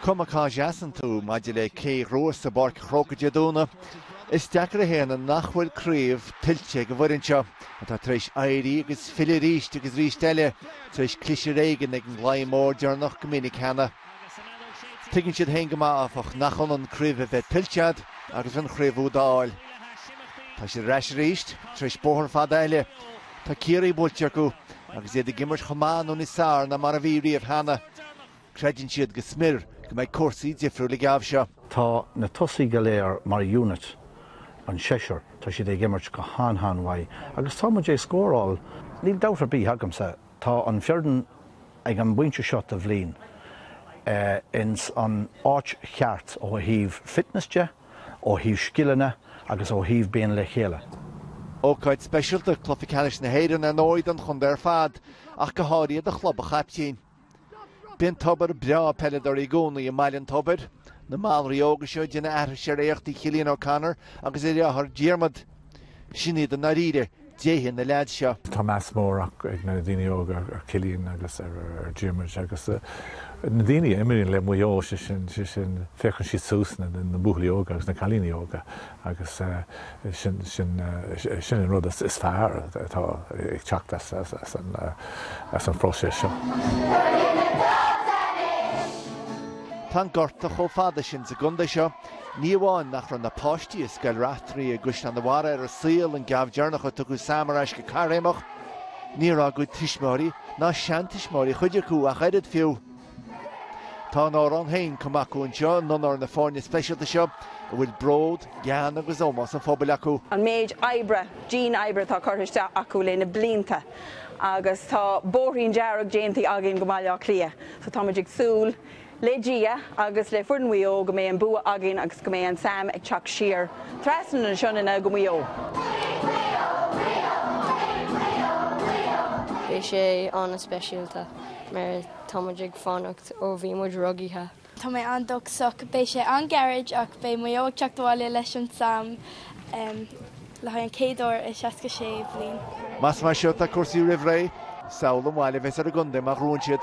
Cuma cá seasann tú maidir le cé a ghnós i bPáirc Chrócaigh Dé Domhnaigh, is deacair a shéanadh nach bhfuil craobh tuillte ag an bhfoireann seo atá tar éis éirí agus filleadh arís agus arís eile tar éis cliseadh ar éigean ag an gclaí mór deireanach go minic cheana. Tuigeann siad féin go maith, áfach, nach ionann craobh a bheith tuillte agat agus an chraobh úd a fháil. Tá siad ar ais arís tar éis bóthar fada eile. Tá Ciarraí buailte acu agus iad ag imirt chomh maith nó níos fearr ná mar a bhí riamh cheana. Creideann siad go smior go mbeidh cúrsaí difriúil an geábh seo. Tá na tosaigh go léir mar unit, an seisear, tá siad ag imirt go han-han-mhaith agus tá muid ag scóráil. Níl dabht ar bith agamsa, tá an fhoireann ag an bpointe seo den bhliain ins an áit cheart ó thaobh fitness de, ó thaobh scileanna agus ó thaobh bheith le chéile. Ócáid speisialta Cluiche Ceannais na hÉireann ar ndóigh don chontae ar fad, ach go háirithe do chlub an chaiptín. Bíonn tobar breá peileadóirí i gcónaí i mBaile an Tobair. Na malraigh óga seo ag déanamh aithris ar éachtaí Chillian O'Connor agus a dheartháir Diarmuid. Sin iad i ndáiríre déithe na leaids seo. Tá meas mór ag na daoine óga ar Chillian agus ar Dhiarmuid agus na daoine a imríonn le Maigh Eo, sé sin, sé sin, féachann siad suas, na buachaillí óga agus na cailíní óga agus sin, sin, sin an rud is fearr atá ag teacht as an, as an bpróiseas seo. Tá an gorta chomh fada sin sa gcontae seo Ní amháin nach raibh na páistí i Scoil Raifteirí i gCaisleán a' Bharraigh ar an saol an geábh deireanach a tugadh Sam ar ais go caithréimeach, ní raibh a gcuid tuismitheoirí, ná seantuismitheoirí chuid acu ach oiread fiú. Tá a n-amhrán féin cumtha acu anseo in onóir na foirne speisialta seo a bhfuil bród, gean agus ómós an phobail acu. an méid oibre, dian oibre atá curtha isteach acu le na blianta agus tá bóithrín dearg déanta againn go Baile Átha Cliath so táimid ag súil Le Dia agus le foireann Mhaigh Eo go mbeidh an bua againn agus go mbeidh an Sam ag teacht siar trasna na Sionainne go Maigh Eo. Maigh Eo! Maigh Eo! Maigh Eo! Maigh Eo! Beidh sé an-speisialta mar tá muid ag fanacht ó bhí muid rugaithe. Tá mé an-dóchasach. Beidh sé an-ghairid ach beidh Maigh Eo ag teacht abhaile leis an Sam. le haghaidh an chéad uair i 66 bliain. Más mar seo atá cúrsaí roimh ré, samhlaigh an bhail a bheas ar an gcontae má ghnónn siad.